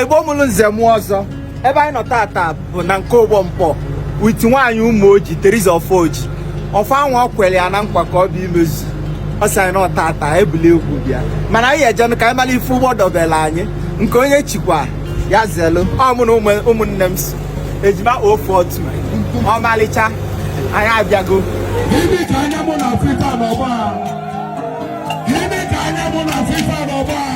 igbo mụrụ nze mụọ ọzọ ebe anyị nọ tata bụ na nke ụgbọ Nkpọ with nwaanyị Ụmụoji Teresa Ofojie ọfa anwa ọ kwere ya na nkwa ka ọ bịa imezu ọ sị anyị na ọ tata ebuli egwu bịa mana anyị ejenụ ka anyị mara ife ụgbọ dobere anyị nke onye chikwa ya zelu ọ mụ na ụmụnne m so ejima ofu otu ọmalịcha anyị abịago Gịnị ka anya mụ na-afụ ifa n'ọgbọ a? Gịnị ka anya mụ na-afụ ifa n'ọgbọ a?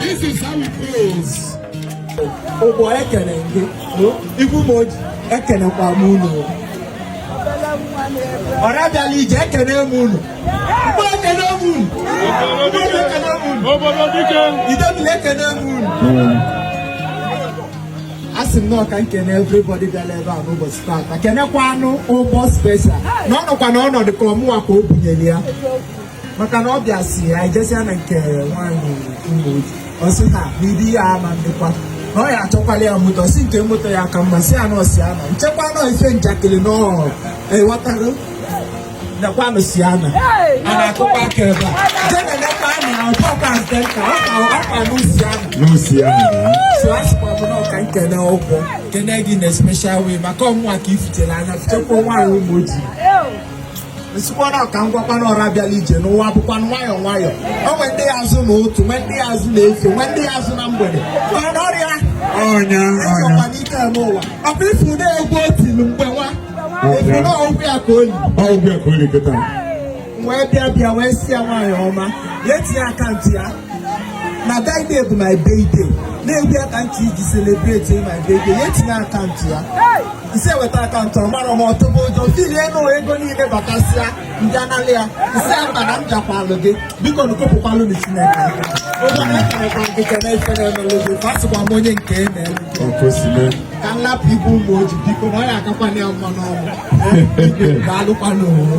This is how it feels. Ụgbọ ekene gị igwe Ụmụoji ekenekwa m unu ọra bịalụ ije ekene m unu Igbo ekene m unu Igbo ekene m unu obodo dike Idemili ekene m unu a sị m na ọ ka m kene everybody bịara ebe a n'ụbọchị taata kenekwanụ ụgbọ special na ọ nọkwa na ọnọdụ ka ọ mụwa ka o bunyere ya maka na ọ bịa sị anyị jesia na nke nwaanyị Ụmụoji ọ sị ha na ibi ya ama ndịkwa na ọ ya achọkwala ya moto sị nke moto ya ka mma Sienna Sienna m chekwa na ọ ife njakịrị na ọ ewetago nekwanụ Sienna a na-akụkwa aka ebe a je nenekwa anya na ọkwa nke nka ọkwa new Sienna new Sienna so a sịkwa m na ọ ka m kene ụgbọ m kene gị na special way maka ọ mụwa ka i futere anya futekwa nwaanyị Ụmụoji m sịkwa na ka m gwakwa ọra bịalụ ije na ụwa bụkwanụ nwayọọ nwayọọ o nwe ndị ya azụ n'ụtụtụ nwe ndị ya azụ n'efifie nwe ndị ya azụ na mgbede mana ọrịa ọnya ọnya n'ike eme ụwa ọ bụ ị fụ na egwu o tilu mgbe nwa afụ na ọgwụ ya ka oli ọgwụ ya ka oli kịta wee bịa bịa wee sị ya nwaanyị ọma ya etinye akaụntụ ya na Friday bụ my birthday na egwu ya ka ntị iji celebrate my birthday ya etinye akaụntụ ya i si eweta akaụntụ ọ mara m ọtụbụ ụjọ fili enu ego niile batasịa ndị anala ya ị sị mba na m jakwalụ gị biko na kopụkwalụ na chineke ụjọ na-ekenekwa gị kene ife na-emelu gị ka asịkwa m onye nke e na-elu ka m lapụ igwe Ụmụoji biko na ọ ya agakwana ya mma n'ọnwụ daalụkwa n'ụwa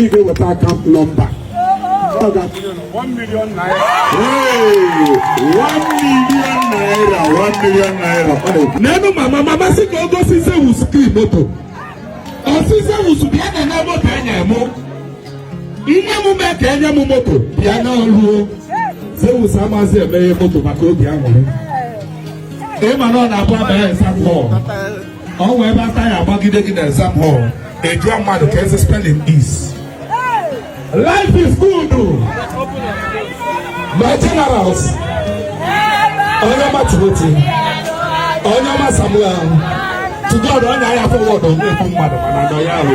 ị ga-eweta akaụntụ nọmba ọ ga-atụnye na 1 million naira Hey, one million naira, one million naira. Ọ na-ekwu. n'elu mama mama sị ka o gosi zeus key moto ọ sị zeus bịa nene moto enye mụ ihe m mee ka enye m moto bịa na ruo zeus amazi emeghe moto maka obi aṅụrị ịma na ọ na-abụ abanye exam hall o nwee ebe ata ya agbagide gị na exam hall a jụọ mmadụ ka esi spelling is life is good my generals onye ọma Timothy onye ọma samuel to god onye ahịa forward onye ekwu mmadụ mana nọ ya ahụ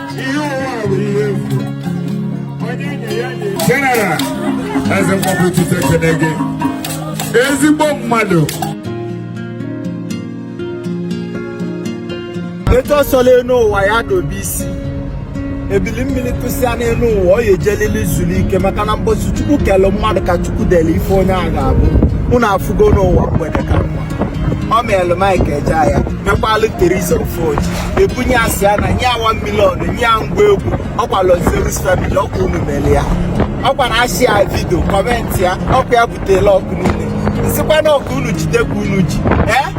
General eze mgbapụ ụtụtụ ekene gị ezigbo mmadụ etu ọ sọla enu ụwa ya dobe isi ebili mmili tụsịa n'enu ụwa ọ ya-ejelili zulu ike maka na mbọsị chukwu kelụ mmadụ ka chukwu delu ife onye a ga-abụ unu afụgo n'ụwa mgbede ka mma ọ meelụ Mike Ejeagha mekwalụ Teresa Ofojie e bunye ya Sienna nye ya 1 million nye ya ngwa egwu ọkwa Lord Zeus family ọkwa unu melụ ya ọkwa na a share video comment ya ọkwa ya butelụ ọkụ niile m sịkwa na ọ ka unu jide ka unu ji ee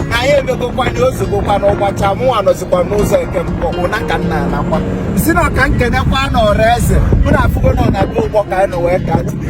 na anyị emegokwanụ ozugokwanụ ụgbacha mụnwa nọzikwa n'ụzọ nke m ụna ka m na-anakwa sị na ọ ka m kenekwanụ ọra eze mụ na afụgo na ọ na-abụ ụgbọ ka anyị nọ wee ka atụle